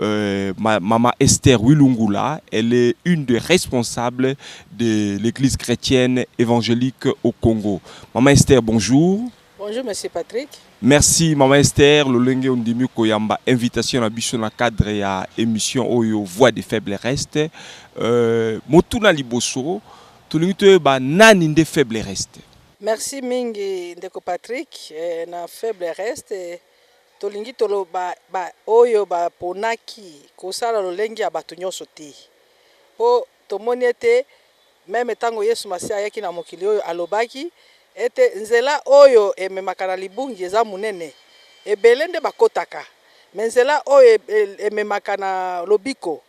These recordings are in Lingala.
Euh, ma, Maman Esther Wilungula, elle est une des responsables de l'église chrétienne évangélique au Congo. Maman Esther, bonjour. Bonjour, monsieur Patrick. Merci, Maman Esther. Lolenge Ondimi Koyamba, invitation à Bichon dans cadre ya émission Oyo, Voix des faibles restes. Euh, Motuna Liboso, Tolingi ba nani nde faible reste. Merci mingi, Ndeko Patrick. Eh, na faible reste, Tolingi toloba ba oyo ba ponaki kosala lolenge ya bato nyonso te. Po tomoni ete meme tango Yesu Masiya ayaki na mokili oyo, alobaki ete nzela oyo ememaka na libungi eza monene, ebele nde bakotaka, mais nzela oyo ememaka na lobiko,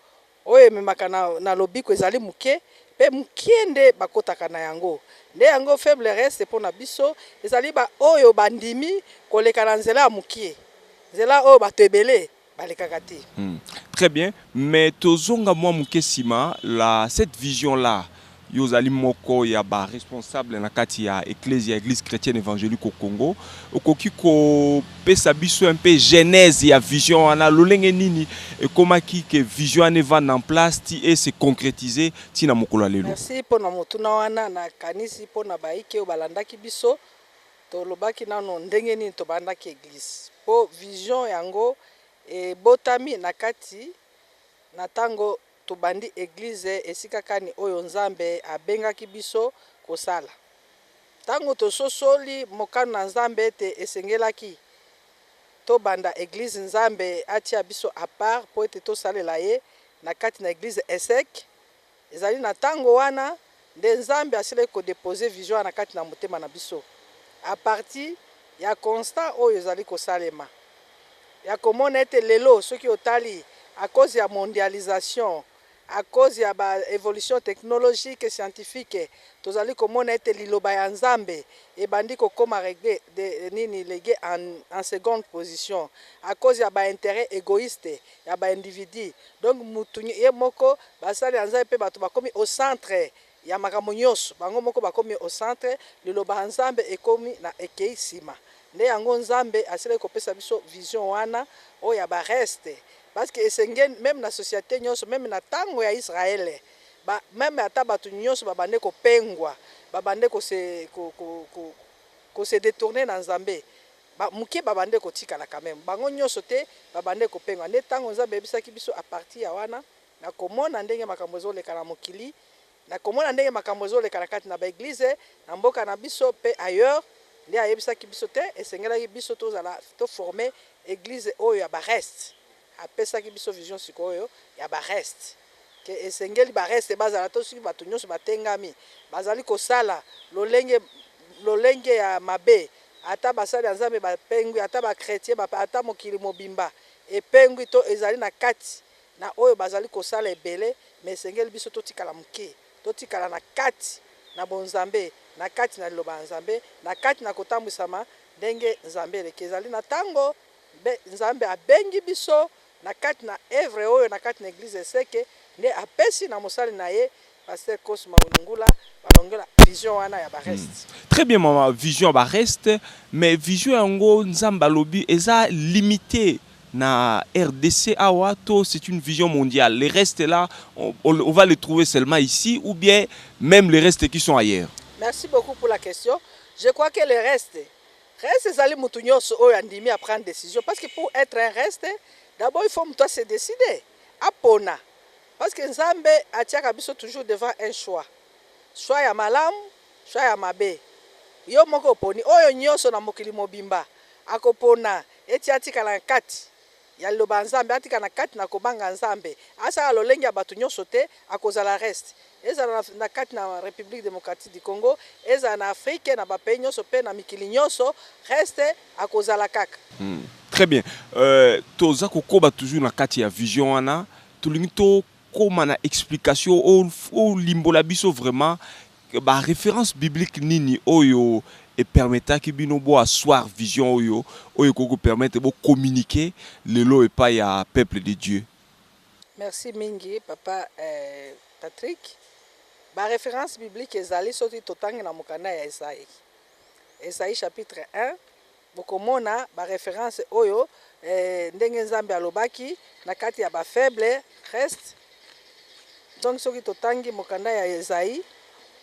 Oyo ememaka na, na lobiko ezali moke, mpe moke nde bakotaka na yango. Nde yango faible reste mpo na biso, ezali baoyo bandimi koleka na nzela ya moke, nzela oyo bato ebele balekaka te. Hum, très bien. Mais tozonga mwa moke sima, la, cette vision-là, Yo ozali moko ya ba responsables na kati ya Eklezia, Eglise Chretienne Evangelique au Congo. Okoki kopesa biso un peu genese ya vision wana, lolenge nini ekomaki que vision wana evanda en place ti e se concretiser ti na mokolo ya lelo? Merci mpo na motuna wana. Nakanisi mpo na bayike oyo balandaki biso, tolobaki nano ndenge nini tobandaki Eglise. Mpo vision yango ebotami na kati na tango Tobandi Eglise esika kani oyo Nzambe abengaki biso kosala. Ntango tososoli mokano na Nzambe ete esengelaki tobanda Eglise, Nzambe atia biso a part mpo ete tosalela Ye na kati na Eglise ESSEC. Ezali na ntango wana. nde Nzambe asilaki ko deposer vision wana kati na motema na biso à partir ya constat oyo ezali kosalema ya komona ete lelo soki otali à cause ya mondialisation, à cause ya ba evolutions technologiques et scientifiques, tozali komona ete liloba ya Nzambe ebandi kokoma regue, nini, legue en seconde position à cause ya ba interets egoistes. ya ba individu donc mutu ye moko basali ya nzambe pe batu bakomi au centre ya makambo nionso bango moko bakomi au centre liloba ya nzambe ekomi na ekeyi sima nde yango nzambe asilaki kopesa biso vision wana oyo ya ba reste parce que esengeli meme na societe nionso meme na tango ya israel ba meme ata batu nionso ba bande kopengwa ba bande ko se ko ko ko se detourne na nzambe Ba muke ba bandaki kotikala quand meme, bango nionso te, ba bandaki kopengwa. Nde tango Nzambe ayebisaki biso à partir ya wana, na komona ndenge makambo ezo leka na mokili, na komona ndenge makambo ezo leka na kati na ba eglises, na mboka na biso pe ailleurs, nde ayebisaki biso te esengelaki biso tozala, to former eglise oyo ya ba restes. Apesaki biso vision sikoyo ya ba restes que esengeli ba restes bazala to soki batu nionso batengami bazali kosala lolenge lolenge ya mabe ata basali ya Nzambe bapengwi ata ba chretiens ba ata mokili mobimba epengwi to ezali na kati na oyo bazali kosala ebele mais esengeli biso totikala muke totikala na kati na bonzambe na kati na liloba ya Nzambe na kati na kotambwisama ndenge Nzambe eleki ezali na tango Mpe Nzambe abengi biso na kati na oeuvre oyo na kati na eglise Eseke nde apesi na mosali na ye Pasteur Cosma Ulungula ba longola vision wana ya ba restes. Très bien maman, vision ya ba restes mais vision yango Nzambe alobi eza limite na rdc awa to c'est une vision mondiale? Les restes là on on va les trouver seulement ici ou bien meme les restes qui sont ailleurs? Merci beaucoup pour la question, je crois que les restes Reste ezali mutu nionso oyo andimi a prendre decision parce que pour etre un reste d'abord il faut mutu a se decider apona parce que Nzambe atiaka biso toujours devant un choix choix ya malamu choix ya mabe yo moko oponi oyo nionso na mokili mobimba akopona eti atikala na kati ya liloba ya Nzambe, atika na kati na kobanga Nzambe, asala lolenge ya bato nyonso te, akozala reste. Ezala na, na kati na Republique Democratique du Congo, ezala na Afrique, na ba pays nyonso pe na mikili nyonso, reste akozala kaka. Hum, très bien. Euh, toza kokoba toujours na kati ya vision wana, tolingi to koma na explication o, o limbola biso vraiment Ba references bibliques nini oyo e permettaki bino bo asseoir vision oyo, oyo ekoki ko permettre bo communiquer lelo epayi ya peuple de Dieu? Merci mingi papa Patrick. Ba references bibliques ezali soki totangi na mokanda ya Esaïe, Esaïe chapitre un, Bokomona ba references oyo eh, ndenge Nzambe alobaki na kati ya ba faibles restes. Donc soki totangi mokanda ya Esaïe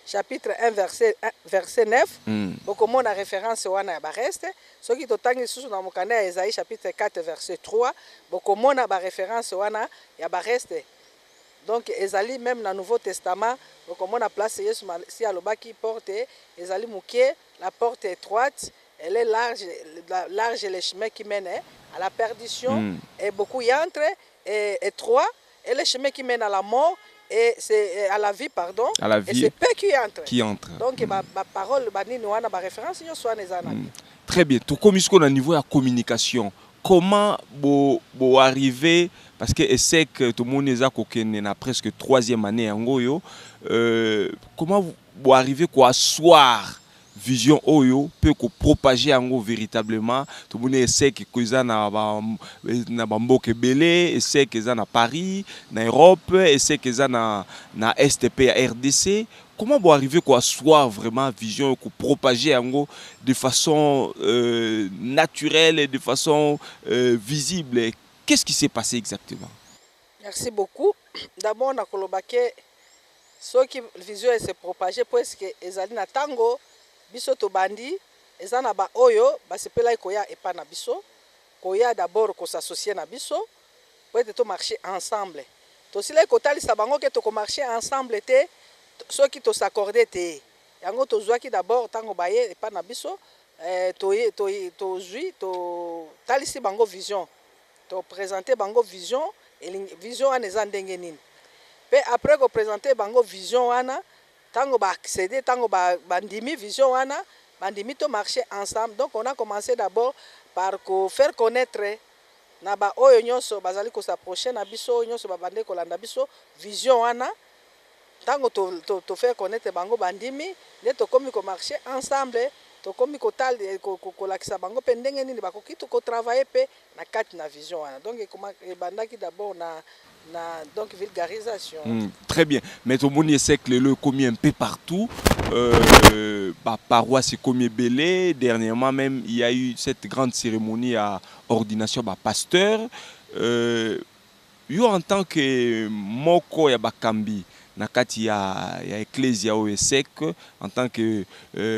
chapitre 1 verset, verset 9 mm. bokomona reference wana ya ba restes. Soki totangi lisusu na mokanda ya Esaïe chapitre 4 verset 3 bokomona ba reference wana ya ba restes. Donc ezali meme na Nouveau Testament bokomona place Yesu si alobaki porte ezali moke La porte etroite elle est large large le chemin qui mène à la perdition et beaucoup y entre et etroit est le chemin qui mène à la mort et c'est à la vie pardon à la vie et c'est peu qui entre qui entre donc ba ba parole ba nini wana ba reference nionso wana eza na très bien tokomi sikoyo na niveau ya communication comment bo bo arrive parce que ecec tomoni eza kokende na presque troisième annee yango oyo euh, comment vous bo arriver ko asseoir vision oyo pe ko propager yango veritablement tomoni echec ko eza na ba na ba mboka ebele echec eza na Paris na Europe echec eza na na est pe ya rdc comment bo arriver ko asseoir vraiment vision oyo ko propager yango de façon euh, naturelle et de façon euh, visible qu'est-ce qui s'est passé exactement Merci beaucoup. D'abord, na koloba ke Soki vision e se propager puesque ezali na tango biso tobandi, eza na ba oyo basepelaki koya epa na biso, koya d'abord ko s'associer na biso po ete to marcher ensemble. Tosilaki kotalisa bango ke toko marcher ensemble te soki to s'accorder te. Yango tozuaki d'abord tango baye epa na biso, eh, toye, to, tozui, to, talisi bango vision. To presenter bango vision elingi vision wana eza ndenge nini pe après ko presenter bango vision wana tango ba acceder tango ba ba ndimi vision wana ba ndimi to marcher ensemble donc on a commence d'abord par ko faire connaitre na ba oyo nionso bazali ko s'approcher na biso oyo nionso ba bandaki kolanda biso vision wana. Tango to to faire connaitre bango ba ndimi nde tokomi ko marcher ensemble tokomi ko tala ko lakisa bango pe ndenge nini ba koki ko travailler pe na kati na vision wana donc ebandaki d'abord na na donc vulgarisation. Très bien mais to moni ecq lelo ekomi un peu partout ba paroisse ekomi ebele dernièrement meme il ya eu cette grande ceremonie ya ordination ba pasteur. Yo en tant que moko ya bakambi na kati ya ya Eklezia oyo ESSEC, en tant que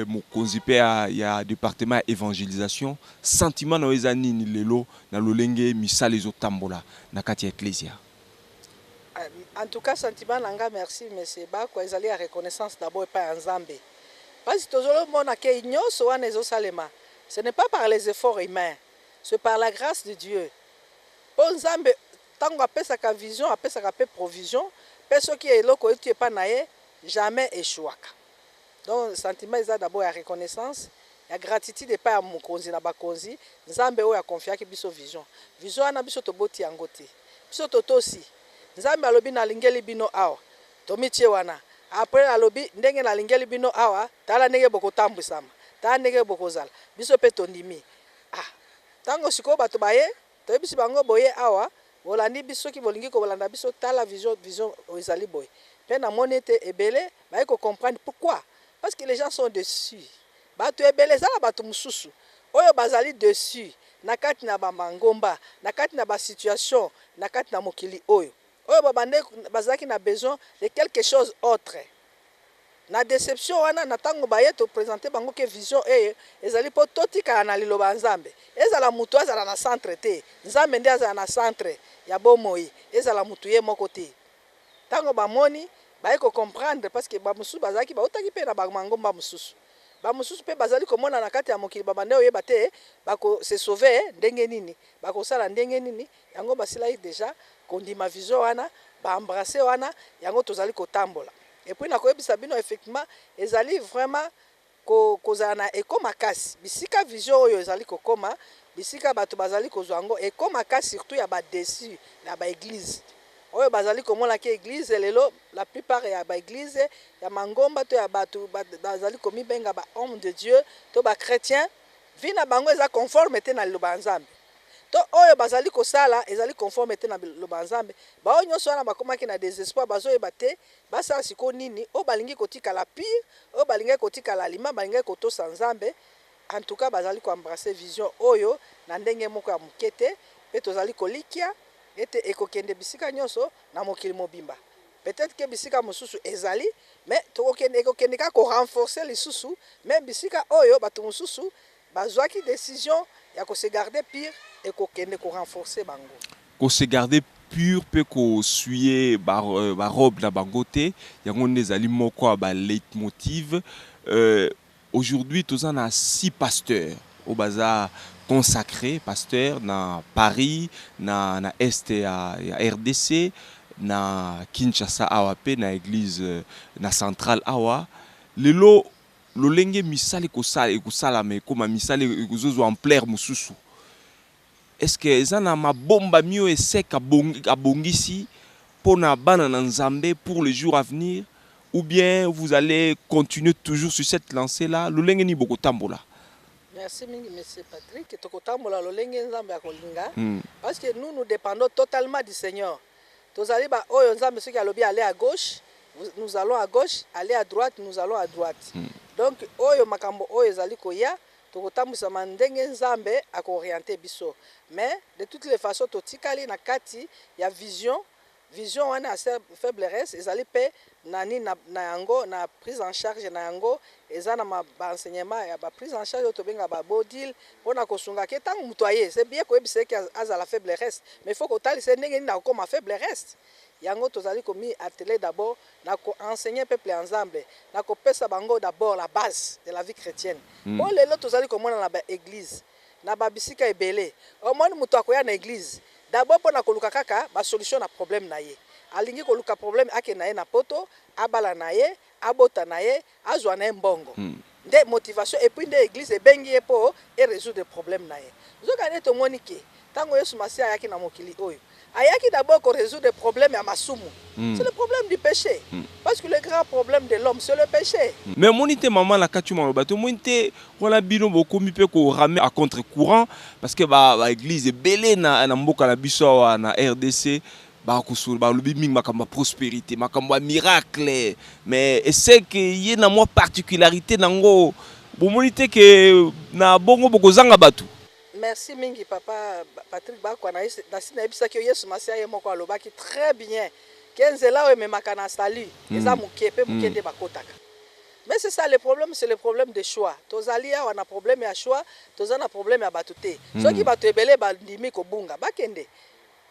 mokonzi pe ya ya departement ya evangelisation, sentiment na yo eza nini lelo na lolenge misala ezo tambola na kati ya Eklezia? En tout cas sentiment na nga, merci Monsieur Bakwa, ezali ya reconnaissance d'abord epai ya Nzambe, pasi tozo mona ke nionso wana ezo salema ce n'est pas par les efforts humains, ce par la grace de Dieu. Po Nzambe tango apesaka vision apesaka pe provision pe soki eloko euti epa na ye jamais echouaka donc sentiment eza d'abord ya reconnaissance ya gratitude epai ya mokonzi na ba konzi Nzambe oyo a confiaki biso vision vision wana biso toboti yango te biso totosi Nzambe alobi na lingeli bino awa tomitie wana apres alobi ndenge na lingeli bino awa tala ndenge bokotambwisama tala ndenge bokozala biso pe tondimi ah. Tango sikoyo bato baye, toyebisi bango boye awa, bolandi biso, soki bolingi kolanda biso tala vision, vision ezali boye. Pe namoni ete ebele baye ko comprendre pourquoi? Parce que les gens sont deçus. Bato ebele, eza na bato mosusu oyo bazali deçus na kati na ba mangomba, na kati na ba situations na kati na mokili oyo. Oyo ba bandaki bazalaki na besoin de quelque chose autre na deception wana na tango baye to presenter bango ke vision eye ezali po totikala na liloba ya Nzambe ezala mutu azala na centre te Nzambe nde azala na centre ya bomoi ezala mutu ye moko te tango bamoni baye ko comprendre parce que ba mosusu bazalaki bawutaki pe na ba mangomba mosusu ba mosusu pe bazali komona na kati ya mokili ba bandaki koyeba te bako se sauver ndenge nini bakosala ndenge nini Yango basilaki dejà kondima vision wana, ba embrasser wana, yango tozali kotambola. Et puis nakoyebisa bino effectivement ezali vraiment ko kozala na echo makasi bisika vision oyo ezali kokoma, bisika batu bazali kozua yango echo makasi surtout ya ba deçu ya ba eglises oyo bazali komona ke eglise lelo la plupart ya ba eglises ya mangomba to ya batu bazali komibenga ba hommes de Dieu to ba chretiens vie na bango eza conforme te na liloba ya Nzambe. to oyo bazali kosala ezali conforme te na liloba ya Nzambe, baoyo nionso wana bakomaki na desespoir, bazoyeba te basala sikoyo nini, oyo balingi kotikala pur, oyo balingaki kotikala alima, balingaki kotosa Nzambe, en tout cas bazali ko embrasser vision oyo na ndenge moko ya muke te, mpe tozali kolikia ete ekokende bisika nionso na mokili mobimba, peut-etre que bisika mosusu ezali mais tokokende, ekokende kaka ko renforcer lisusu meme bisika oyo batu mosusu. Bazuaki decision ya ko se garder pure et ko kende ko renforcer bango. Ko se garder pure mpe ko suer ba robes na bango te, yango nde ezali moko ya ba leitmotiv. Aujourd'hui toza na six pasteurs oyo baza consacres pasteurs na Paris, na na Est ya rdc, na Kinshasa awa mpe na eglise na centrale awa lelo, Lolenge misala ekosala ekosalama ekoma misala ekozozwa ampleur mosusu est ce que eza na mabombami oyo ESSEC abongisi pona bana na Nzambe pour le jour avenir ou bien vous allez continuer toujours sur cette lancee là lolenge nini bokotambola? Merci mingi monsieur Patrick, tokotambola lolenge Nzambe akolinga parce que nous nous dependons totalement du Seigneur Tozali ba oyo nzambe soki alobi aller à gauche nous allons à gauche aller à droite nous allons à droite donc oyo makambo oyo ezali koya tokotambwisama ndenge nzambe ako orienter biso mais de toutes les façons totikali na kati ya vision vision wana ya faible reste ezali pe na nini na na yango na prise en charge na yango eza na ba enseignement ya ba prise en charge oyo tobenga ba bodil pona kosunga ke tango mutu aye c'est bien koyebisa ye ke azala faible reste mais il faut kotalisa ye ndenge nini akokoma faible reste yango tozali komi atteler d'abord na ko enseigner peuple ya Nzambe na kopesa bango d'abord la base de la vie chretienne po lelo tozali komona na ba eglise Na ba bisika ebele omoni mutu akoya na eglise d'abord pona koluka kaka ba solution na problème na ye. Alingi koluka problème akende na ye na poto, abala na ye, abota na ye, azua na ye mbongo. Nde motivation et puis nde eglise ebengi ye po e resoudre problème na ye. Nzoka nde tomoni que tango Yesu Masiya ayaki na mokili oyo, Ayaki d'abord ko resoudre problème ya masumu. C'est le problème du peche. Parce que le grand problème de l'homme, c'est le peche. Mais omoni te maman na kati maloba te omoni te wana bino bokomi pe ko rame a contre courant parce que ba ba eglise ebele na na mboka na biso awa na rdc ba kosola ba lobi mingi makambo ya prosperite makambo ya miracle mais eseke ye na mwa particularite na ngo bomoni te ke na bongo bokozanga batu Merci mingi papa Patrick Bakwa nasi nayebisaki yo Yesu Masiya ye moko alobaki très bien ke nzela oyo ememaka na salut eza muke pe muke nde bakotaka mais c'est ça le problème c'est le problème de choix tozali awa na problème ya choix toza na problème ya batu te soki batu ebele bandimi kobunga bakende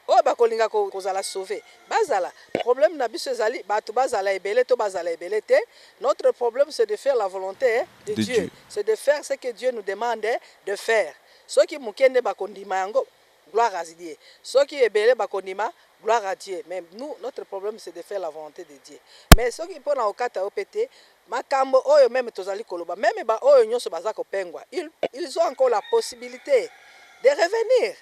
Oyo bakolinga kozala sauve bazala problème na biso ezali batu bazala ebele to bazala ebele te notre problème c'est de faire la volonte de Dieu c'est de faire ce que Dieu nous demande de faire soki muke nde bakondima yango gloire à Dieu soki ebele bakondima gloire à Dieu mais nous notre problème c'est de faire la volonte de Dieu mais soki pona kokata yo pe te makambo oyo meme tozali koloba meme ba oyo nionso baza kopengwa ils ont encore la possibilite de revenir.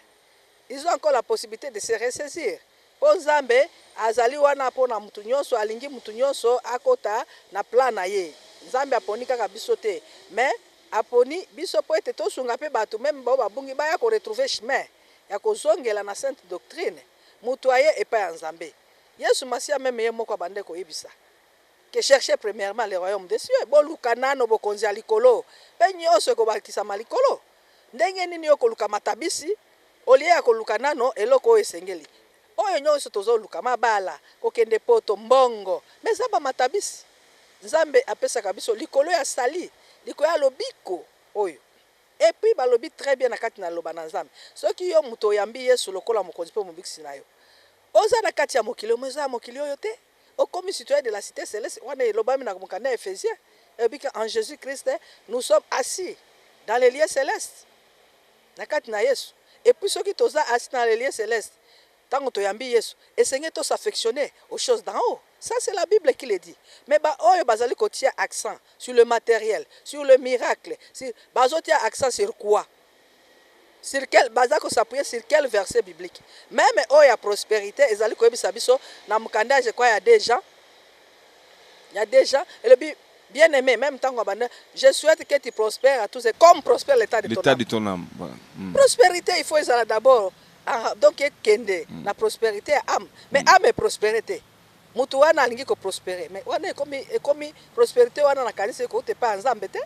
Ils ont encore la possibilite de se ressaisir po Nzambe azali wana pona mutu nionso alingi mutu nionso akota na plan na ye. Nzambe aponi kaka biso te mais aponi biso po ete tosunga pe batu meme baoyo babungi baya ko retrouver chemin ya kozongela na sainte doctrine mutu aye epai ya Nzambe. Yesu Masiya meme ye moko abandaki koyebisa que cherchez premierement le royaume des cieux, boluka nanu bokonzi ya likolo pe nionso ekobakisama likolo. Ndenge nini yo koluka matabisi au lieu ya koluka nano eloko oyo esengeli? Oyo nionso tozo luka, mabala, kokende poto, mbongo, mais eza ba matabisi Nzambe apesaka biso likolo ya sali, likolo ya lobiko oyo. Et puis balobi très bien na kati na Liloba na Nzambe, soki yo mutu oyambi Yesu lokola Mokonzi mpe Mobikisi na yo, oza na kati ya mokili oyo mais oza ya mokili oyo te. Okomi citoyen de la cite celeste wana elobami na mokanda ya Ephesie elobi que en Jesus Christ nous sommes assis dans les lieux celestes na kati na Yesu et puis soki toza assis dans les lieux celestes tango toyambi Yesu esengeli to s'affectionner aux choses d'en haut ça c'est la Bible qui le dit mais ba oyo bazali kotia accent sur le materiel sur le miracle sur bazotia accent sur quoi Sur quel, baza ko s'appuyer sur quel verset biblique? Meme oyo ya prosperite ezali koyebisa biso na mokanda ya je crois ya deux Jean, ya deux Jean, elobi Bien aime, meme tangu abanda, je souhaite que tu prosperes à tous et comme prospère l'etat de ton ame. De ton ame, voilà. Mm. Prosperite il faut ezala d'abord, ah, donc ekende mm. na prosperite ya ame, mais mm. ame eprospere te. Mutu wana alingi ko prosperer mais wana ekomi ekomi prosperite wana na kanisi ekouta epai ya nzambe te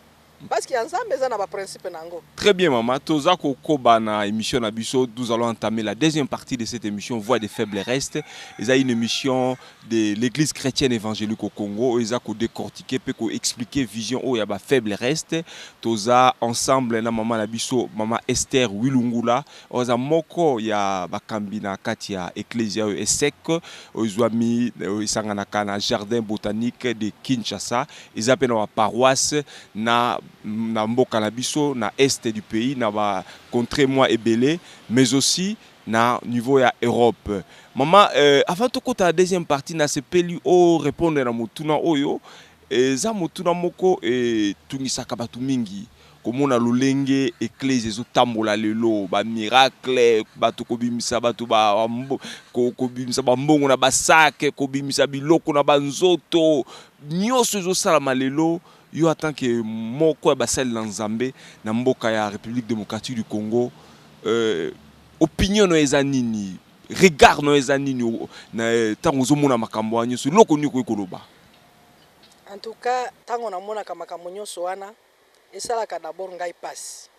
parce que ya nzambe eza na ba principe na ngo. Très bien maman toza kokoba na emission na biso nous allons entamer la deuxième partie de cette emission voix des faibles reste eza une emission de l'eglise chretienne evangelique au Congo oyo eza ko decortiquer pe ko expliquer vision oyo ya ba faibles reste toza ensemble na maman na biso maman Esther Wilungula Oza moko ya bakambi na kati ya Eklezia oyo ESSEC, oyo ezwami, oyo esanganaka na Jardin botanique de Kinshasa. Eza pe na ba paroisses na, na mboka na biso, na Est du pays, na ba contres mwa ebele, mais aussi na niveau ya Europe. Mama, eh, avant tokota na deuxième partie, nasepeli o repondre na motuna oyo. Eza motuna moko etungisaka batu mingi. Komona lolenge eklezia ezo tambola lelo, ba miracle, batu kobimisa batu ba kobimisa ba mbongo na ba sac, kobimisa biloko na ba nzoto, nioso ezo salama lelo, yo en tant que moko ya basali na Nzambe na mboka ya Republique Democratique du Congo, opinion nayo eza nini? Regard nayo eza nini na tango ozo mona makambo wana nioso? Eloko nini okoki koloba? En tout cas tango na monaka makambo nioso wana, Esalaka d'abord ngai pasi.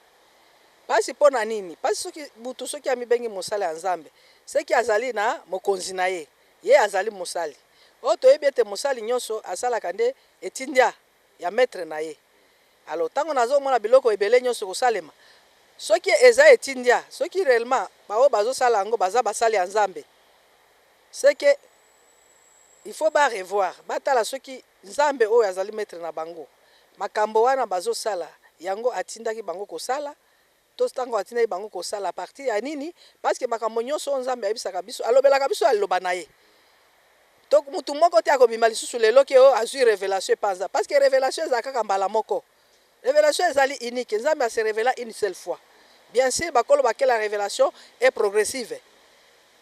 Pasi pona nini? Pasi soki mutu soki amibengi mosali ya Nzambe ce que azali na mokonzi na ye, ye azali mosali. Or toyebi ete mosali nionso asalaka nde etindia ya maitre na ye. Alors tango nazo mona biloko ebele nionso kosalema soki eza etindia soki reellement ba oyo bazo sala yango baza basali ya Nzambe ce que il faut ba revoir batala soki Nzambe oyo azali maitre na bango makambo wana bazo sala yango atindaki bango kosala to tango atindaki bango kosala partir ya nini paske makambo nyoso oyo nzambe ayebisaka biso alobelaka biso ya liloba na ye to mutu moko te akobima lisusu lelo ke o azui revelation epa nzambe paske revelation ezala kaka mbala moko Revelation ezali unique, Nzambe a se revela une seule fois. Bien sur bakolo ba que la revelation est progressive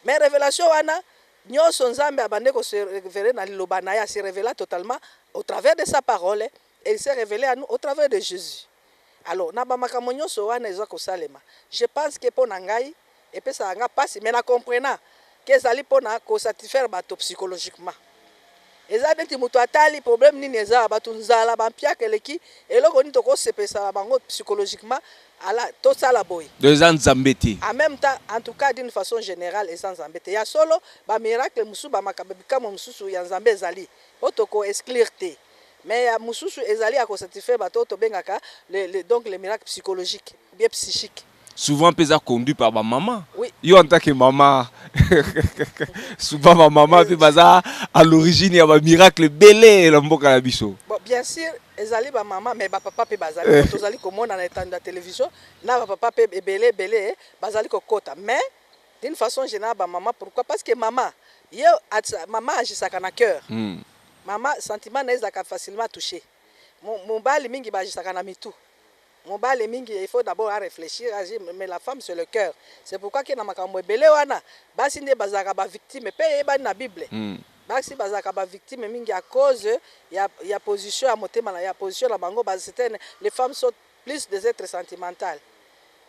mais revelation wana nionso Nzambe abande ko se reveler na liloba na ye, a se revela totalement au travers de sa parole et il s'est revele à nous au travers de Jesus. Alors na ba makambo nionso wana eza kosalema, je pense que mpo na ngai, Epesaka nga pasi mais na comprena ke ezali pona ko satisfaire bato psychologiquement. Eza neti moto atali problème nini eza ya bato, nzala, ba mpiaka eleki, eloko nini toko sepelisa na bango psychologiquement, ala to sala boye. Donc eza Nzambe te. En meme temps, en tout cas d'une façon generale eza Nzambe te. Ya solo ba miracles mosusu, ba makambo, bikamwa mosusu ya Nzambe ezali oyo toko exclure te. Mais ya mosusu ezali ya ko satisfaire bato oyo tobengaka les, les, donc les miracles psychologiques ou bien psychiques. souvent pe eza conduit par ba maman oui. yo en tant que maman souvent ba maman pe baza à l'origine ya ba miracle belé na mboka na biso bon, bien sûr ezali ba maman mais ba papa pe bazali eh. tozali komona na etando ya télévision na ba papa pe ebele ebele bazali kokota mais d'une façon générale ba maman pourquoi parce que maman ye maman agisaka na cœur mm. maman sentiment na ye ezalaka facilement touché mobali mingi baagisaka na mitu Mobali mingi il faut d'abord a reflechir a dire mais la femme c'est le cœur c'est pourquoi que na makambo ebele wana basi nde bazalaka ba victimes pe eyebani na bible basi bazalaka ba victimes mingi à cause ya ya position ya motema na ya position na bango ba certaines les femmes sont plus des etres sentimentales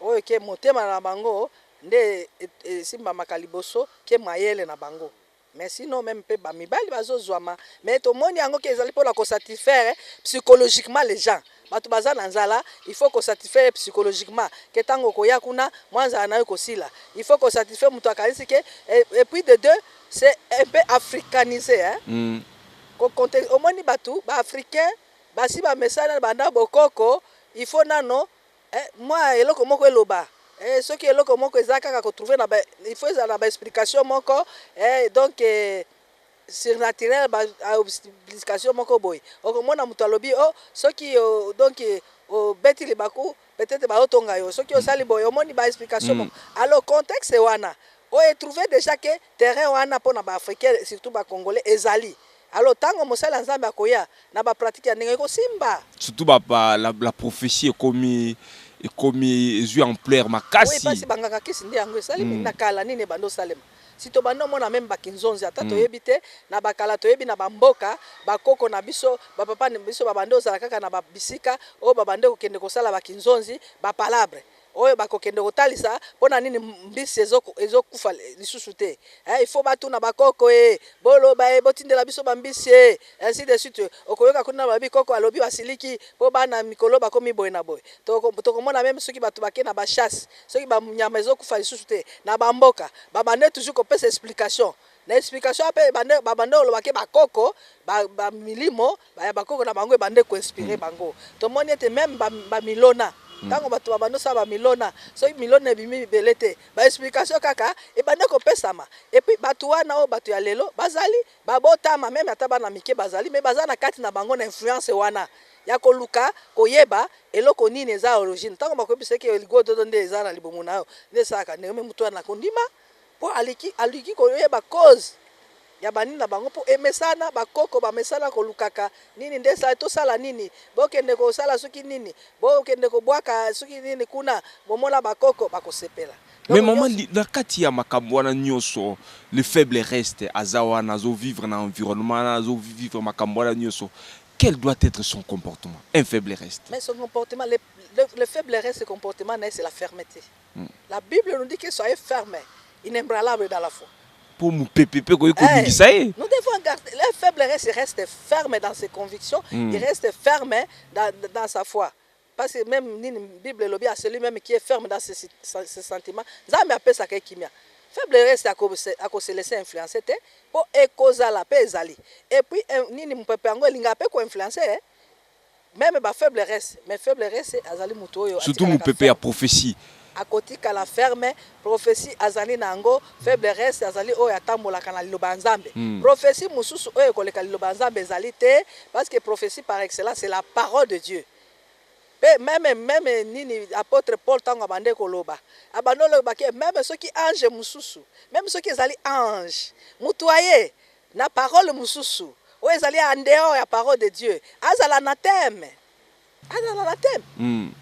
oyo ke motema na bango nde esimbamaka liboso ke mayele na bango Mais si non meme pe ba mibali bazo zuama mais to moni yango ke ezali pona ko satisfaire psychologiquement les gens batu baza na nzala il faut ko satisfaire psychologiquement ke tango okoya kuna mwa nzala nayo ekosila il faut ko satisfaire mutu akanisi ke et puis de deux c'est un peu africanise hein mm. ko compte omoni batu ba africain basi ba mesana banda bokoko il faut nano Eh mwa eloko moko eloba eh soki eloko moko eza kaka ko trouver na ba il faut ezala na ba explication moko eh donc eh, surnaturel ba explication moko boye okomona moto alobi oh soki o donc obeti libaku peut-etre ba otonga yo soki osali boye omoni ba explication moko alors contexte wana o e trouver dejà que terrain wana pona ba africain surtout ba congolais ezali Alors tango mosali ya Nzambe akoya na ba pratique ya ndenge ekosimba. Surtout ba ba la, la prophetie ekomi ekomi ezui ampleur makasi. Oui pasi bangaka kisi nde yango esali mm. na kala nini ebanda osalema. Si tobanda omona meme bakinzonzi ata mm. toyebi te na bakala toyebi na bamboka bakoko na biso bapapa na biso babande ozala kaka na bisika oyo babande kokende kosala bakinzonzi bapalabre oyo bakokende kotalisa pona nini mbisi ezo ezokufa lisusu te eh, il faut batuna bakoko e eh, boloba e eh, botindela biso bambisi e ainsi de suite okoyoka kuna babi koko alobi basiliki mpo bana mikolo bakomi boye na boye tokomona meme soki bato bake na bachasse soki banyama ezokufa lisusu te na bamboka babande toujours kopesa explication na explication ape babande olobake bakoko bamilimo Ba ya bakoko na bango ebande ko inspirer bango. Tomoni ete meme ba ba milona tango batu ba bando sala ba milona soki milona ebimi ebele te ba explication kaka ebande ko pesama et puis batu wana oyo batu ya lelo bazali ba botama meme ata bana mike bazali mais baza na kati na bango na influence wana ya koluka koyeba eloko nini eza origine tango bakoyebisa yo ke ligododo nde eza na libumu nayo nde esalaka ndenge meme mutu wana akondima. Po aliki aluki koyeba cause ya ba nini na bango po emesana ba koko ba mesana kolukaka nini nde esali tosala nini bokende kosala soki nini bokende kobwaka soki nini kuna bomona ba koko bakosepela Mais donc maman nionso. na kati ya makambo wana nionso le faible reste aza wana azo vivre na environnement wana azo vivre makambo wana nionso quel doit etre son comportement un faible reste? Mais son comportement le le faible reste comportement na ye c'est la fermete. La bible nous dit que soyez ferme, inebranlable dans la foi. Pour mupepe pe koyi ko bingisa ye. Nous devons garder le faible reste reste ferme dans ses convictions, mm. il reste ferme dans, dans sa foi. Parce que même nini Bible lobi à celui même qui est ferme dans ses, ses sentiments, Nzambe apesa ke kimia. Faible reste à ko se laisser influencer te, po ekozala pe ezali. Et puis eh, nini mupepe yango elinga pe ko influencer eh? Meme ba faible res mais faible res azali mutu oyo surtout mupepe ya prophetie akotikala ferme prophetie azali na yango faible res azali oyo atambolaka na liloba ya nzambe mm. prophetie mosusu oyo ekoleka liloba ya nzambe ezali te parce que prophetie par excellence c'est la parole de dieu mpe meme meme nini apotre paul ntango abande koloba abande olobaki meme soki ange mosusu meme soki ezali ange moto aye na parole mosusu oyo ezali en dehors ya parole de Dieu, azala anatheme, azala anatheme.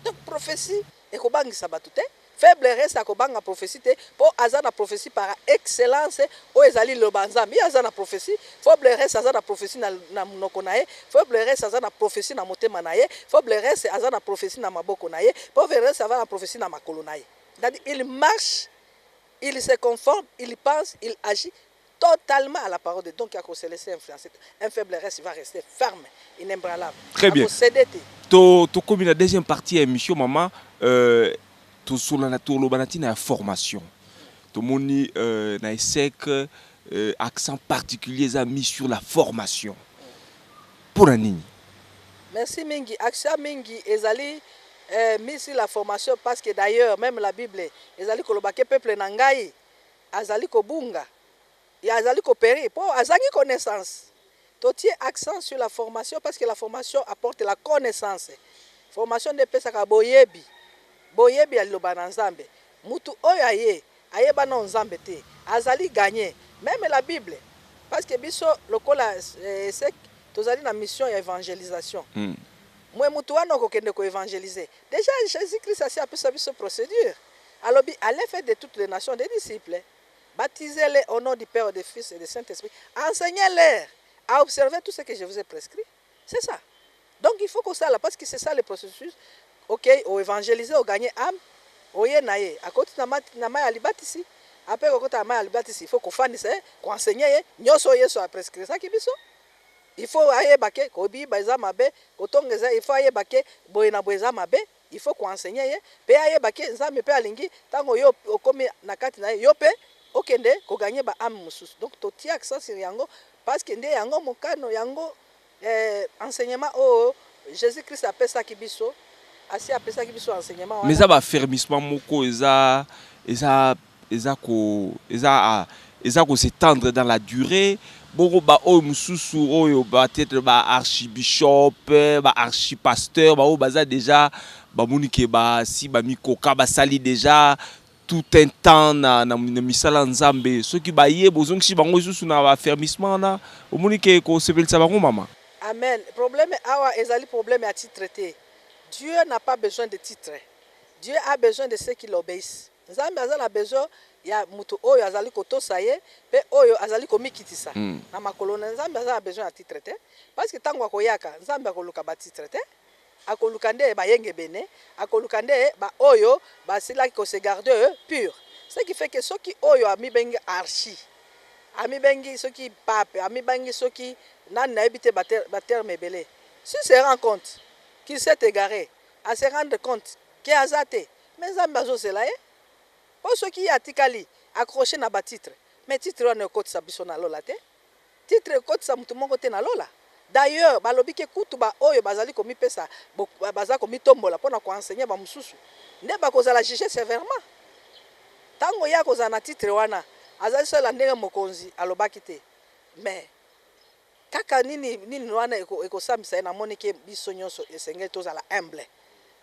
Donc prophetie ekobangisa batu te, faible reste akobanga prophetie te po aza na prophetie par excellence oyo ezali liloba ya Nzambe. Ye aza na prophetie, faible reste aza na prophetie na, na munoko na ye, faible reste aza na prophetie na motema na ye, faible reste aza na prophetie na maboko na ye, faible reste aza na prophetie na makolo na ye. C'est-à-dire il marche, il se conforme, il pense, il agit. Totalement à la parole de donc ako se laisser influencer te. Un faible reste va rester ferme, inebranlable. Très bien. Ako ceder te. To tokomi na deuxième partie ya emission mama euh, tosolana toloba na ntina ya formation tomoni euh, na esec euh, accent particulier eza mis sur la formation mpo na nini Merci mingi. Action mingi ezali eh, mis sur la formation parce que d'ailleurs même la Bible ezali koloba ke peuple na ngai Azali kobunga ya azali ko perir po azangi connaissance. To tie accent sur la formation parce que la formation apporte la connaissance. Formation nde epesaka boyebi, boyebi ya liloba na Nzambe. Mutu oyo aye, ayeba nano Nzambe te, azali gagne meme la Bible parce que biso lokola ESSEC tozali na mission ya evangelisation. Mwe mutu wana okokende ko evangeliser. Dejà Jesus Christ asi apesa biso procedure. Alobi allez faites de toutes les nations des disciples, baptisez les au nom du père et de fils et de saint esprit, enseignez leur à observer tout ce que je vous ai prescrit, c'est ça donc il faut kosala parce que c'est ça le processus okay o evangeliser o gagner ame oye na ye akoti na mati na mai ya libatisi ape kokota na mai ya libatisi ifo kofandisa ye koensegne ye nyonso oyo yesu aprescrisaki biso ifo ayeba ke kobiba eza mabe kotonga eza ifo ayeba ke boye na boye eza mabe Il faut ko enseigner ye pe ayeba ke Nzambe pe alingi tango yo okomi na kati na ye yo pe okende ko gagner ba ames mususu donc to tie accent sur yango parce que nde yango mokano yango eh enseignement oyo Jesus Christ a pesaki biso asi a pesaki biso enseignement wana. Mais eza ba fermissement moko eza eza eza ko eza eza ko se tendre dans la duree bongo ba oyo mususu oyo ba tetre ba archibishop ba archipasteur ba oyo baza deja bamoni ke basi bamikoka basali deja tout un temps na, na, na misala ya nzambe soki baye bozongisi bango lisusu na bafermissement wana omoni ke kosepelisa bango mama Amen probleme awa ezali probleme ya titre te Dieu n'a pas besoin de titre Dieu a besoin de ceux qui l'obeissent. Nzambe aza na besoin ya mutu oyo azali kotosa ye pe oyo azali komikitisa na makolo naye. Nzambe aza na besoin ya titre te parce que tangu akoyaka Nzambe akoluka ba titre te akoluka nde bayengebene akoluka nde ba oyo basilaki ko se garde pure ce qui fait que soki oyo amibengi archi amibengi soki pape amibangi soki nani nayebi te ba terme ebele s'il se rend compte qu'il s'est egare a se rendre compte que aza te Mais nzambe azo zela ye po soki ye atikali accroche naba titre mais titre wana ekotisa biso na lola te titre ekotisa mutu moko te na lola d'ailleurs balobi ke kutu ba oyo bazali komipesa baza komitombola pona ko enseigner ba mususu nde bakozala juger severement tango ye akozala na titre wana azali seul ya ndenge mokonzi alobaki te mais Kaka nini nini wana ekosambisa ye? Namoni ke biso nionso esengeli tozala humble,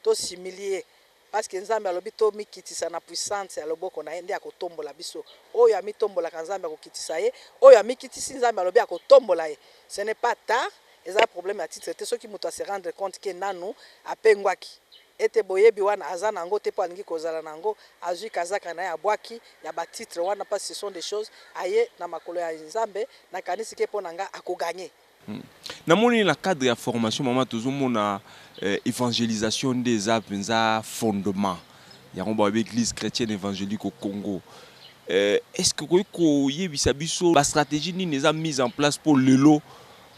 to s'humilier parce que Nzambe alobi tomikitisa na puissante ya loboko na ye nde akotombola biso. Oyo amitombolaka Nzambe akokitisa ye, oyo amikitisi Nzambe alobi akotombola ye. Ce n'est pas tard, eza problème ya titre te soki mutu a se rendre compte ke nanu apengwaki. Ete boyebi wana aza na yango te po alingi kozala na yango, azui kazaka na ye abuaki ya ba titres wana parce ce sont des choses aye na makolo ya Nzambe, na kanisi ke po na nga ako gagner. Hum na moni na cadre ya formation maman tozo mona evangelisation nde eza penza fondement yango ba lobi eglise chretienne evangelique au Congo est ce que okoki ko yebisa biso ba strategie nini eza mise en place po lelo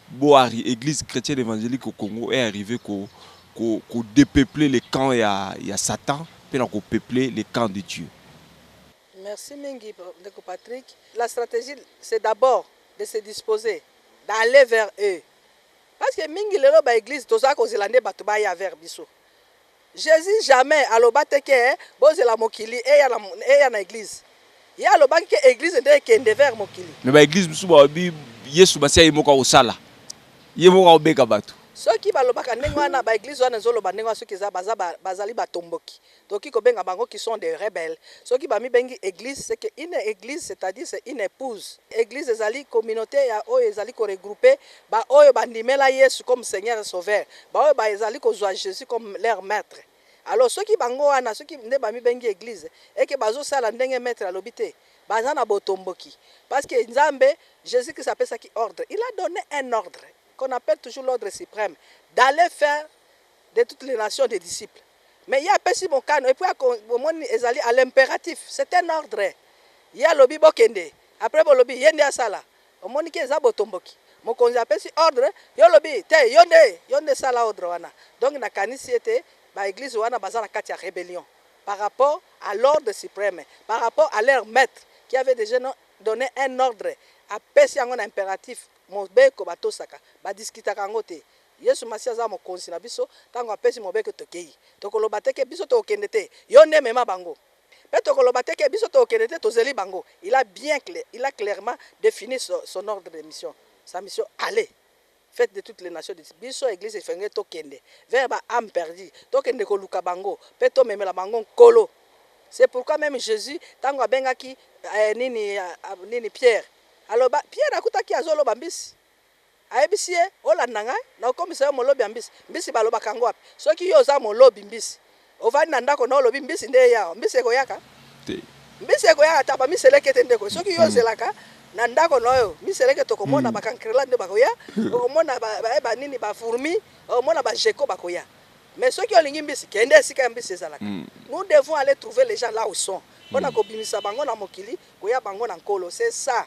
Boari eglise chretienne evangelique au Congo est arrive ko ko depeupler le camp ya ya satan pe na ko peupler le camp de Dieu. Merci mingi ndeko Patrick, la strategie c'est d'abord de se disposer d'aller vers eux parce que mingi lelo ba eglises toza kozela nde batu baya vers biso. Jesus jamais aloba te ke bozela mokili eya na eya na eglise ye alobaki ke eglise nde ekende vers mokili. Mais ba eglise misusu balobi yesu masiya ye moko akosala ye moko akobeka batu. Soki balobaka ndenge wana ba eglise wana ezo loba ndenge wana soki eza baza bazali ba tomboki tokoki kobenga bango qui sont des rebelles soki ba mibengi eglise ce que une eglise c'est à dire c'est une epouse eglise ezali communaute ya oyo ezali ko regrouper Ba oyo ba ndimela yesu comme seigneur et sauveur, ba oyo ba ezali ko zua jesus comme leur maitre, alors soki bango wana soki nde ba mibengi eglise et que bazo sala ndenge maitre alobi te, baza na botomboki, parce que nzambe, jesus christ apesaki ordre, il a donne un ordre, qu'on appelle toujours l'ordre supreme, d'aller faire de toutes les nations des disciples, mais ye apesi mokano et puis ako, bomoni ezali à l'imperatif, c'est un ordre, ye alobi bokende, après bolobi ye nde asala, Omoni ke eza botomboki. Mokonzi apesi ordre yo olobi te yo nde yo nde sala ordre wana donc na kanisi ete ba eglise wana baza na kati ya rebellion par rapport a l'ordre supreme par rapport a leur maitre qui avait deja donne un ordre apesi yango na imperatif mobeko batosaka ba discutaka yango te yesu masiya aza mokonzi na biso tango apesi mobeko tokeyi tokoloba te ke biso tokokende te yo nde mema bango Pe tokoloba te ke biso tokokende te tozeli bango il a bien il a clairement defini son ordre de mission sa mission allez faites de toutes les nations des biso eglise efengeli tokende vers ba ame perdue tokende koluka bango pe tomemela bango nkolo c'est pourquoi meme Jesus tangu abengaki eh, nini, ah, nini Pierre aloba Pierre akutaki azoloba mbisi Ayebisi ye, Olanda ngai, nakokomisa yo molobi ya mbisi. Mbisi balobaka yango wapi? Soki yo oza molobi mbisi, ovandi na ndako na yo olobi mbisi nde eya awa, mbisi ekoyaka? Te. Mbisi ekoyaka ata ba miselekete nde ekoya. Soki yo ozelaka na ndako na yo miselekete, okomona ba cancrelats nde bakoya, okomona ba, ba, ba nini, ba fourmis, okomona ba geckos bakoya. Mais soki olingi mbisi, kende esika ya mbisi ezalaka. Nous devons aller trouver les gens là où sont, pona kobimisa bango na mokili, koya bango na Nkolo. C'est ça.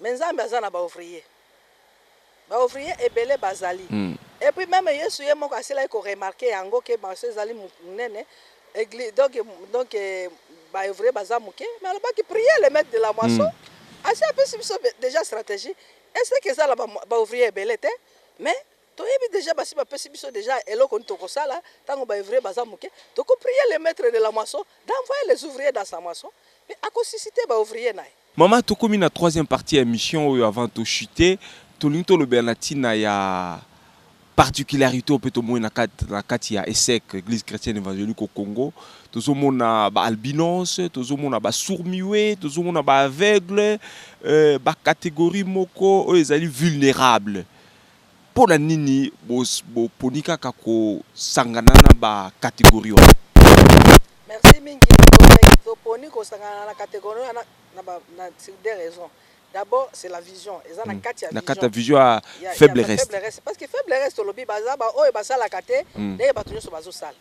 Mais nzambe aza na ba ouvriers ba ouvriers ebele bazali et puis meme yesu ye moko asilaki ko remarquer yango que marche ezali munene eglise donc donc ba ouvriers baza muke mais alobaki prier le maitre de la moisson asi apesi biso dejà strategie est ce que ezala ba ouvriers ebele te mais toyebi dejà basi bapesi biso dejà eloko nini toko sala tango ba ouvriers baza muke toko prier le maitre de la moisson d'envoyer les ouvriers dans sa moisson pe ako susciter ba ouvriers naye Maman tokomi na troisième partie ya emission oyo avant to chuter tolingi tolobela na tina ya particularité oyo mpe tomoni na kati na kati ya ESSEC Eglise Chrétienne Evangélique au Congo tozomona ba albinos tozomona ba sourds muets tozomona ba aveugles euh, ba catégorie moko oyo ezali vulnérable Mpo na nini boponi kaka kosangana na ba categories wana? Merci mingi. Toponi kosangana na categories wana sur deux raisons. D'abord, c'est la vision. Eza na kati ya vision. Na kati ya vision ya Faible Reste. Parce que Faible Reste, tolobi baza baoyo basalaka te ndenge bato nyonso bazosala.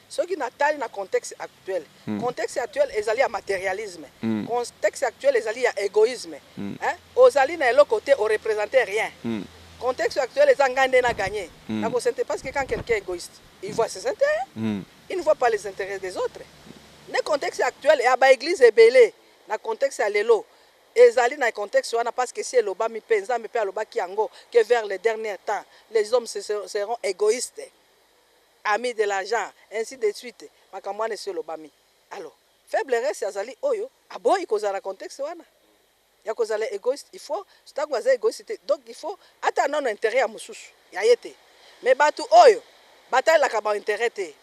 Soki na tali na contexte actuel, contexte actuel ezali ya materialisme, contexte actuel ezali ya egoisme, hein, ozali na eloko te, o representer rien, contexte actuel eza ngai nde na gagne, na ko sente parce que quand quelqu'un est egoiste, il voit ses interets, il ne voit pas les interets des autres, nde contexte actuel ya ba eglises ebele na contexte ya lelo ezali na contexte wana parce que esi elobami mpe Nzambe mpe alobaki yango que vers les derniers temps les hommes seront egoistes. ami de l'argent ainsi de suite makambo wana esi elobami alors faible reste azali oyo aboyi kozala na contexte wana ya kozala egoiste il faut tango aza egoiste te donc il faut ata nano interet ya mosusu ya ye te mais batu oyo batalelaka ba interet te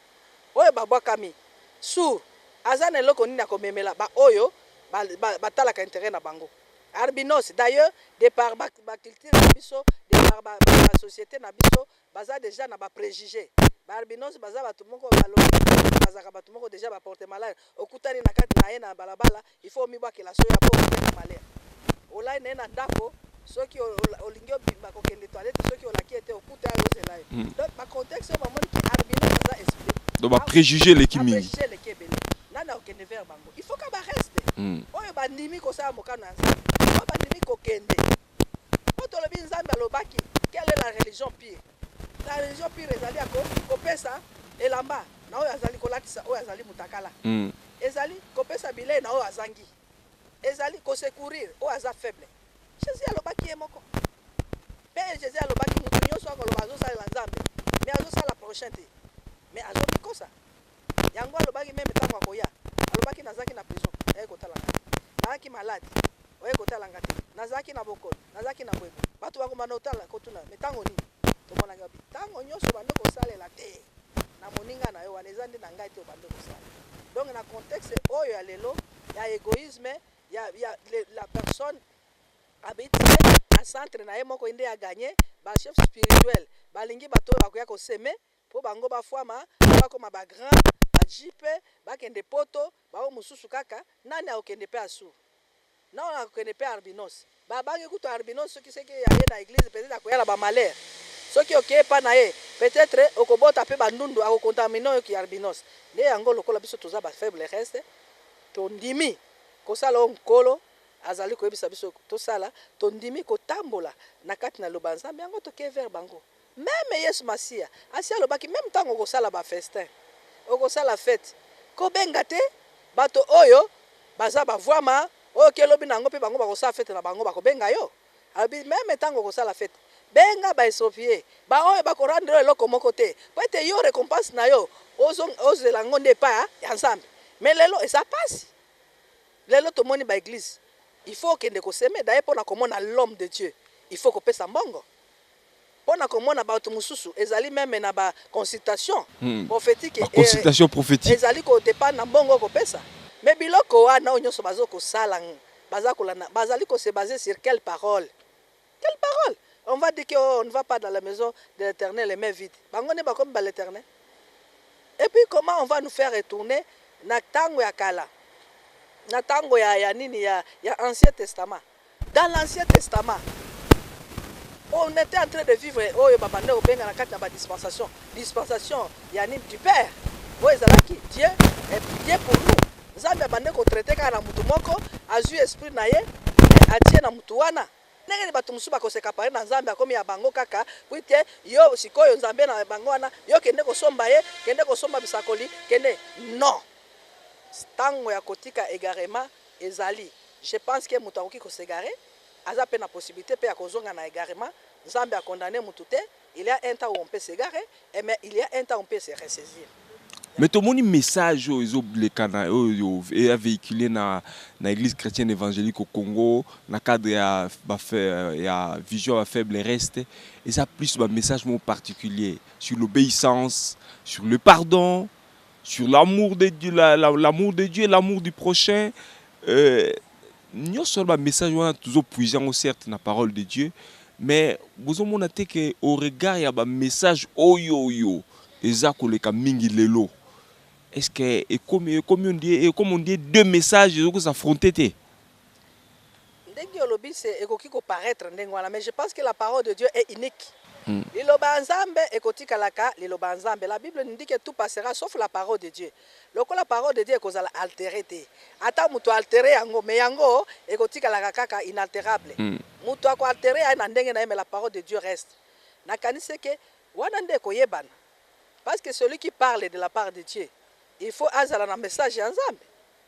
oyo babwakami sur aza na eloko nini ya komemela ba oyo batalaka interet na bango albinos d'ailleurs de par ba culture na biso de par ba societe na biso baza dejà na ba prejuge ba albinos baza batu moko ba lobi bazalaka batu moko dejà ba porte malade okutani na kati naye na balabala il faut omibwakela soyi après okomi na malheur olali naye na ndaku soki olingi obimba kokende toilette soki olaki ye te okuta ye azozela yo hmm. donc ba contexte oyo bamoni ki albino baza esprit donc ba prejuge eleki mingi eleki ebele nani akokende vers bango il faut ka ba reste hmm. oyo bandimi kosala mokano ya nzambe oyo bandimi kokende Mpo tolobi Nzambe alobaki, quelle est la religion pure? La religion pure ezali ya ko, kopesa elamba na oyo azali, kolatisa oyo azali mutakala. Ezali kopesa bilei na oyo azangi. Ezali ko secourir oyo aza faible. Jesus alobaki ye moko. Mpe Jesus alobaki mutu nyoso akoloba azosalela Nzambe mais azosala prochain te mais azomikosa. yango alobaki meme tango akoya alobaki nazalaki na prison yayaki kotala nga te nayaki malade oyaki kotala nga te nazalaki na bokono nazalaki na boye boye batu bakobanda kotala kotuna mais tango nini tomonaki wapi tango nionso obandi kosalela te na moninga na yo wana eza nde na ngai te obandi kosala donc na contexte oyo ya lelo ya egoisme ya, ya le, la personne habitué na centre na ye moko inde ya gagner ba chef spirituel balingi bato oyo bakoya koseme po bango ba fuama po ba koma ba grand ba JP ba kende poto ba oyo mususu kaka nani ako kende pe asu nao nako kende pe arbinos ba bangi kutu arbinos soki seke aye na eglise peut etre akoya na ba malheur soki oke epa naye peut etre oko bota pe ba ndundu ako contamine yo ki arbinos nde yango lokola biso toza ba faible reste to ndimi ko sala oyo nkolo azali ko yebisa biso to sala to ndimi ko tambola na kati na liloba ya nzambe yango toke vers bango. Meme Yesu Masiya asi alobaki meme tango okosala ba festin, okosala fete, ko benga te bato oyo baza ba vuama oyo ke lobi na yango pe bango bakosala fete na bango bako benga yo? Alobi meme tango okosala fete benga ba estropier, ba oyo bako rendre yo eloko moko te po ete yo recompense na yo ozo ozela yango nde epa ya Nzambe. Mais lelo eza pasi, lelo tomoni ba eglise il faut okende ko semer, d'ailleurs pona komona l'homme de Dieu il faut kopesa mbongo. mpo na komona bato mosusu, ezali meme na ba consultations prophetiques et ezali ko dependre na mbongo okopesa, mais biloko wana oyo nionso bazo kosala baza kolanda bazali ko se baser sur quelle parole? Quelle parole? On va dire que oh on ne va pas dans la maison de l'Eternel les mains vides, bango nde bakomi ba l'Eternel? Et puis comment on va nous faire retourner na tango ya kala, na tango ya nini ya ancien testament? Dans l'ancien testament on etait en train de vivre oyo ba bandaki kobenga na kati na ba dispensation, dispensation ya nini du père oyo ezalaki Dieu et Dieu pour nous Nzambe abandaki ko traiter kaka na mutu moko azui esprit na ye et atie na mutu wana ndenge nini batu mosusu bako se caparer na Nzambe akomi ya bango kaka puite yo sikoyo Nzambe na bango wana yo kende kosomba ye kende kosomba bisakoli kende non tango ya kotika egarement Ezali je pense que mutu akoki ko s'egare aza pe na possibilite pe ya kozonga na egarement nzambe a condamne mutu te il ya un temps ou on peut s'egare et mais il ya un temps on peut se ressaisir ya. Mais tomoni message oyo ezo leka na oyo eya vehiculer na na eglise chretienne evangelique au Congo na cadre ya ba ya vision ya ba faible reste eza plus ba message moko particulier sur l'obeissance sur le pardon sur l'amour de Dieu, la, la, l'amour de Dieu, l'amour du prochain. Euh, nyonso wana bamessage wana tozopuise yango certes na parole de dieu mais bozomona te ke au regard ya bamessage oyo oyo eza koleka mingi lelo est ce que ekomi ekomi ondie ekomi ondie deux message ezoki s'affronte te Ndenge olobi se ekoki ko paraitre ndenge wana mais je pense que la parole de Dieu est unique. Liloba ya Nzambe ekotikalaka liloba ya Nzambe. La Bible nous dit que tout passera sauf la parole de Dieu. Lokola parole de Dieu ekozala alterer te. Ata mutu a alterer yango mais yango ekotikalaka kaka inalterable. Mutu ako alterer aye na ndenge na ye mais la parole de Dieu reste. Na kanisi que wana nde ekoyebana. Parce que celui qui parle de la part de Dieu il faut azala na message ya Nzambe.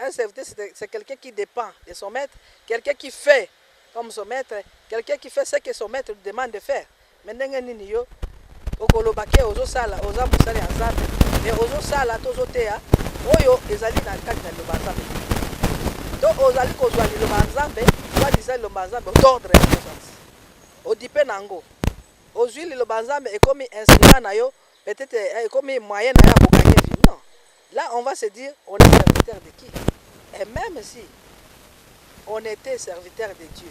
Un serviteur c'est quelqu'un qui depend de son maitre, quelqu'un qui fait comme son maitre, quelqu'un qui fait ce que son maitre lui demande de faire. Mais ndenge nini yo okoloba ke ozo sala oza mosali ya Nzambe mais ozo sala to ozo teya oyo ezali na kati na liloba Nzambe to ozali kozwa liloba Nzambe soit disant liloba Nzambe d'ordre ya conscience odipe na yango ozwi liloba Nzambe ekomi instrument na yo peut-être eh, ekomi moyen na yo ya kokanye vie non Là on va se dire on est serviteur de qui? Et meme si on etait serviteur de Dieu,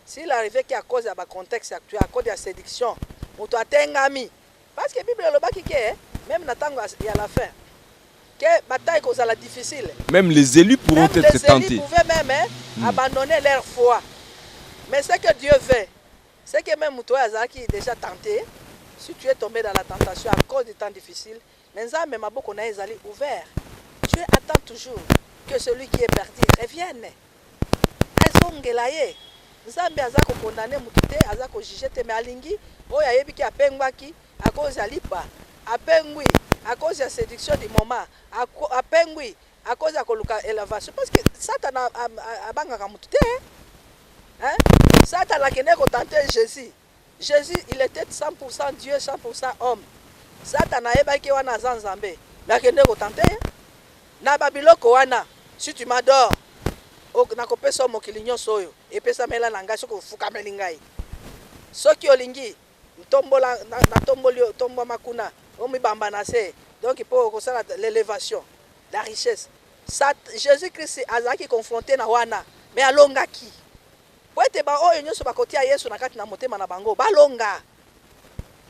s'il arrivait que à cause ya ba contextes actuels, à cause ya seduction, mutu atengami, parce que bible elobaki que meme na tango ya la fin que bataille kozala difficile, Meme les elus pourront meme etre les elus tentes. pouvaient meme abandonner leur foi. Mais ce que Dieu veut, c'est que meme mutu oyo azalaki dejà tente, si tu es tombé dans la tentation à cause du temps difficile, Mais Nzambe maboko naye ezali ouvert Dieu attend toujours que celui qui est perdu revienne azongela ye Nzambe aza ko condamne mutu te aza ko juge te mais alingi oyo ayebi ke apengwaki à cause ya lipa apengwi à cause ya seduction du moment apengwi à cause ya koluka elevation parce que satana abangaka mutu te hein satana akendeki ko tenter Jesus. Jesus il etait 100 pour 100 Dieu 100 pour 100 homme satana ayebaki wana aza nzambe mais akende ko tenter ye na ba biloko wana si tu m'adore nakopesa yo mokili nyonso oyo epesamela na ngai soki ofukameli ngai soki olingi ntombola natomboli yo tombwama kuna omibamba na se donc mpo okosala l'elevation la richesse Sat, jésus christ azalaki confronte na wana mais alongaki Mpo ete baoyo nyonso bakotia Yesu na kati na motema na bango balonga.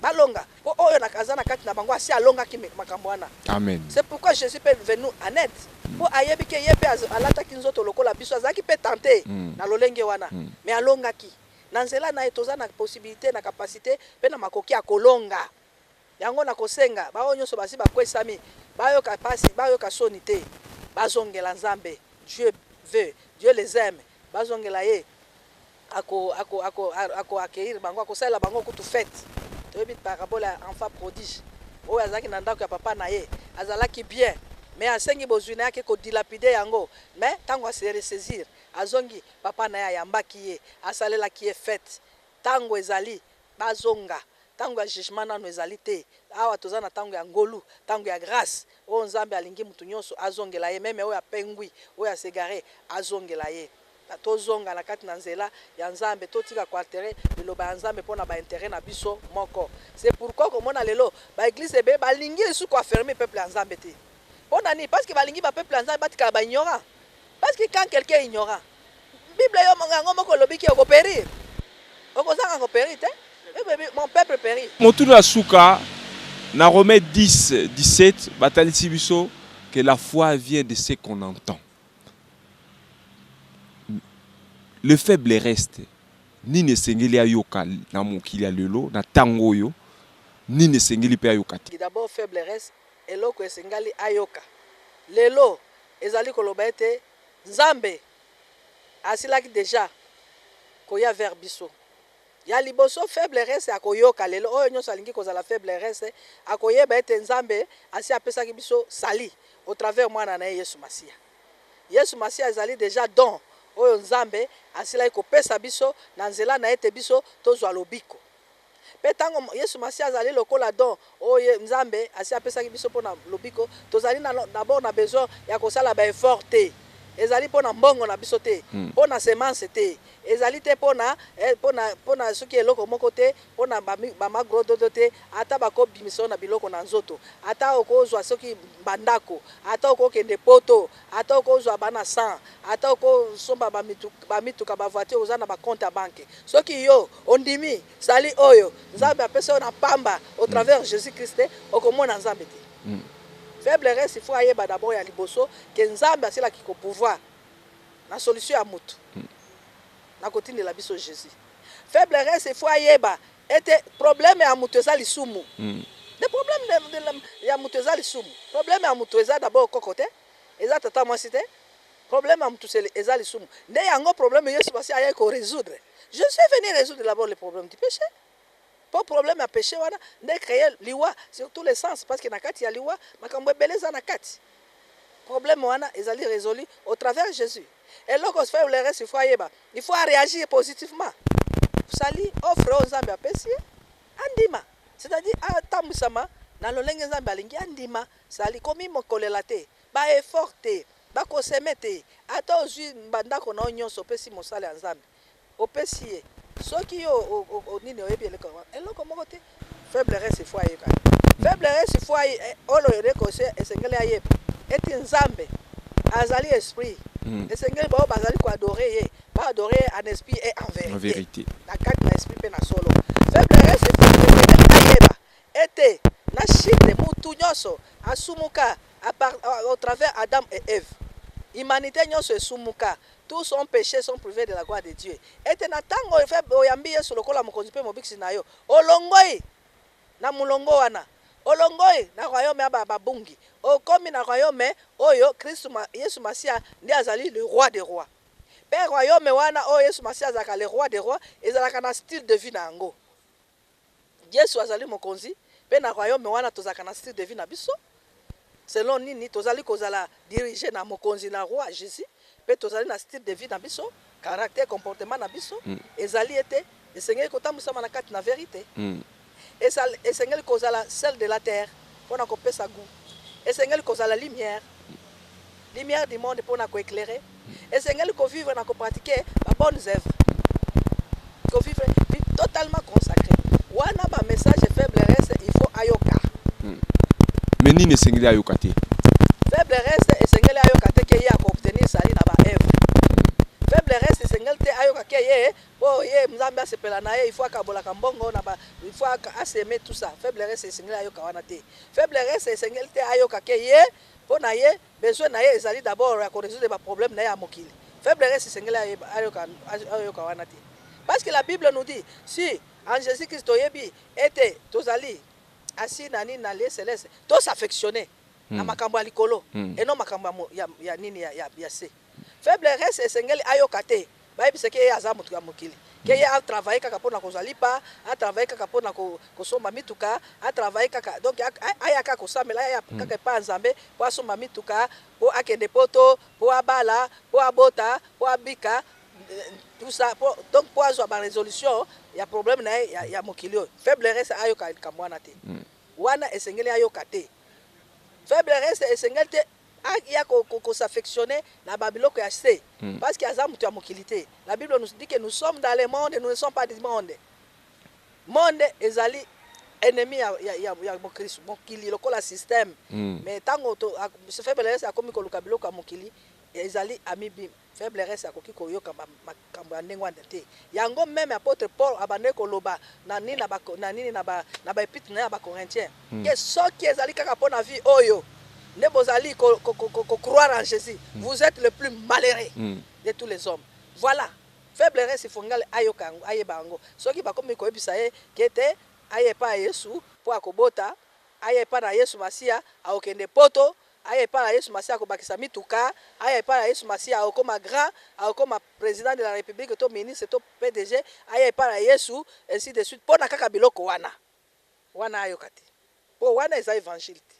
Balonga. Mpo oyo na, aza na kati na bango asi alongaki me- makambo wana. Amen. C'est pourquoi Jésus peut venir nous en aide. Mpo ayebi ke ye mpe az- alataki nzoto lokola biso, azalaki mpe tente Mm. na lolenge wana, Mm. me alongaki. Na nzela na ye toza na possibilité, na capacité mpe na makoki ya kolonga. Yango nakosenga baoyo nyonso basi bakwesami bayoka pasi, bayoka soni te, bazongela Nzambe, Dieu veut, Dieu les aime, bazongela ye, ako, ako, ako, ako accueillir bango, akosalela bango kutu fete. Toyebi parabole ya enfant prodige oyo azalaki na ndako ya papa na ye, azalaki bien, mais asengi bozwi na ye, ake ko dilapider yango, mais tango a se ressaisir, azongi, papa na ye ayambaki ye, asalelaki ye fete. Tango ezali Bazonga. Tango ya jugement nanu ezali te. Awa toza na tango ya ngolu, tango ya grace. Oyo Nzambe alingi mutu nionso azongela ye, meme oyo apengwi, oyo a s'egare, azongela ye. Tozonga na kati na nzela ya Nzambe, totika ko alterer liloba ya Nzambe pona ba interets na biso moko. C'est pourquoi okomona lelo ba eglises ebele balingi lisusu ko affermir peuple ya Nzambe te. Pona nini? Parce que balingi ba peuples ya Nzambe batikala ba ignorants. Parce que quand quelqu'un est ignorant, Bible yo yango moko elobi ke oko perir. Okozanga ko perir te. Mon peuple perit. Motuna ya suka, na Romains 10, 17, batalisi biso que la foi vient de ce qu'on entend. Le faible reste. Nini esengeli ayoka na mokili ya lelo, na tango oyo, nini esengeli pe ayoka te? D'abord faible reste, eloko esengali ayoka lelo ezali koloba ete. Nzambe asilaki dejà koya vers biso. Ya liboso faible reste akoyoka lelo oyo nionso alingi kozala faible reste akoyeba ete Nzambe asi apesaki biso salut au travers mwana na ye Yesu Masiya. Yesu Masiya ezali dejà don oyo Nzambe asilaki kopesa biso na nzela na ye ete biso tozwa lobiko. Mpe ntango Yesu Masiya azali lokola don oyo Nzambe asi apesaki biso mpo na lobiko, tozali na, d'abord, na besoin ya kosala ba efforts te. Ezali mpo na mbongo na biso te, mpo na semence te, ezali te mpo na, eh, mpo na, mpo na soki eloko moko te, mpo na ba, ba magrododo te, ata bakobimisa yo na biloko na nzoto, ata okozua soki ba ndako, ata okokende poto, Ata okozwa bana 100, ata okosomba ba mituka, ba voitures, oza na ba comptes ya banque. Soki yo ondimi salut oyo Nzambe apesa yo na pamba au travers Jesus Christ, okomona Nzambe te. Faible race il faut ayeba d'abord ya liboso que Nzambe asila ki ko pouvoir na solution ya mutu. Nakotindela biso Jesus. Faible race il faut ayeba. Ete problème ya mutu eza lisumu. Nde problème ya mutu eza lisumu. Problème ya mutu eza d'abord koko te, eza tata mwasi te. Problème ya mutu eza lisumu. Nde yango problème Yesu basi ayaki ko resoudre. Je suis venu resoudre d'abord le problème du peche. Po problème ya peche wana nde e cree liwa sur tous les sens parce que na kati ya liwa makambo ebele eza na kati. Problème wana ezali resolu au travers Jesus eloko faiblress il faut ayeba il faut a reagir positivement salut offre oyo Nzambe apesi ye andima c'est à dire atambwisama na lolenge Nzambe alingi andima salut komi mokolela te ba effort te ba koseme te ata ozwi bandako na yo nyonso opesi mosala ya Nzambe Opesi ye soki yo o nini oyebi eloko yango eloko moko te faible reste fo ayeba faible reste fo olo eleko esengeli ayeba eti nzambe azali esprit hmm. esengeli bao bazali ko adorer ye ba adorer ye en esprit et en vérité, en vérité. na kati na esprit pe na solo faible reste fo esengeli ayeba ete na chute mutu nyonso asumuka au travers Adam et Eve humanité nyonso esumuka Tous son peches sont prives de la gloire de Dieu ete na tango oyambi Yesu lokola mokonzi mpe mobikisi na yo, olongoi na molongo wana, olongoi na royaume ya ba bungi, okomi na royaume oyo Kristu Yesu Masiya nde azali le Roi des Rois. Mpe royaume wana oyo Yesu Masiya azalaka le Roi des Rois ezalaka na style de vie na yango. Yesu azali mokonzi pe na royaume wana tozalaka na style de vie na biso selon nini tozali kozala dirige na mokonzi na roi Jesus pe tozali na style de vie na biso caractère comportement na biso ezali ete esengeli kotambwisama na kati na verite esengeli kozala sel de la terre pona kopesa gout esengeli kozala lumière Lumière du monde pona ko eclairer esengeli ko vivre na ko pratiquer ba bonnes œuvres. Ko vivre vie totalement consacree. Wana ba messages faible reste il faut ayoka. Hmm. Mais nini esengeli ayoka te? Faible reste esengeli ayoka te ke ye ako obtenir salut na ba œuvres. Faible reste esengeli te ayoka ke ye po ye Nzambe asepela na ye il faut akabolaka mbongo na ba il faut aseme tout ça. Faible reste esengeli ayoka wana te. Faible reste esengeli te ayoka ke ye Po na ye, besoin na ye ezali d'abord ya ko resoudre ba problèmes na ye ya mokili. Faible res esengeli ayeba, ayoka, ayoka wana te. Parce que la Bible nous dit, si en Jesus Christ toyebi et te tozali assis na nini, na lieu celeste, to s'affectionner na makambo ya likolo et non makambo ya, ya nini, ya se. Faible reste esengeli ayoka te bayebisa ke ye aza mutu ya mokili ke ye a travailler kaka pona kozwa lipa a travailler kaka pona kosomba mituka a travailler kaka donc aya kaka kosambela aya kaka epa ya nzambe po asomba mituka po akende poto po abala po abota po abika tout ça po donc po azwa ba resolution ya problème naye ya mokili oyo faible reste ayoka likambo wana te wana esengeli ayoka te faible reste esengeli te A ya ko ko s'affectionner na ba biloko ya se parce que aza mutu ya mokili te. La bible nous dit que nous sommes dans le monde nous ne sommes pas du monde. Monde ezali ennemi ya ya ya bokristu, mokili lokola système mais tango to ce fait Belleuse akomi koluka biloko ya mokili ezali ami bim. Faiblresse akoki koyoka ba makambo ya ndenge wana te. Yango meme apotre Paul abandaki koloba na nini na ba na nini na ba na ba epitre na ye ya ba Corinthiens que soki ezali kaka mpo na vie oyo nde bozali ko ko ko ko croire en Jesus vous etes le plus malheureux de tous les hommes voilà faiblresse ifongali ayoka yango ayeba yango soki bakomi koyebisa ye que te aya epai ya Yesu mpo akobota aya epai na Yesu Masiya akokende poto Aya epa ya yesu masiya akobakisa mituka aya epa ya yesu masiya akokoma grand akokoma president de la republique to ministre to pdg aya epa ya yesu ainsi de suite pona kaka biloko wana wana ayoka te po wana eza evangile te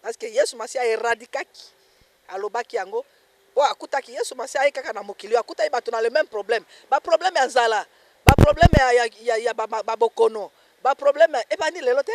parce que yesu masiya a eradikaki alobaki yango po akutaki yesu masiya aye kaka na mokili oyo akutaki bato na le meme problème ba problème ya nzala ba problème ya ya ya ba bokono ba problème ebandi lelo te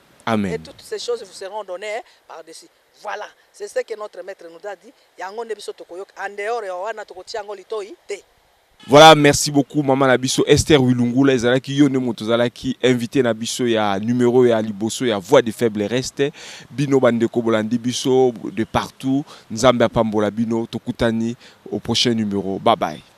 Amen. Voilà merci beaucoup maman na biso Esther wilungula ezalaki yo nde moto ozalaki invité na biso ya numero ya liboso ya voix de faible reste bino bandeko bolandi biso de partout nzambe apambola bino tokutani au prochain numero bye bye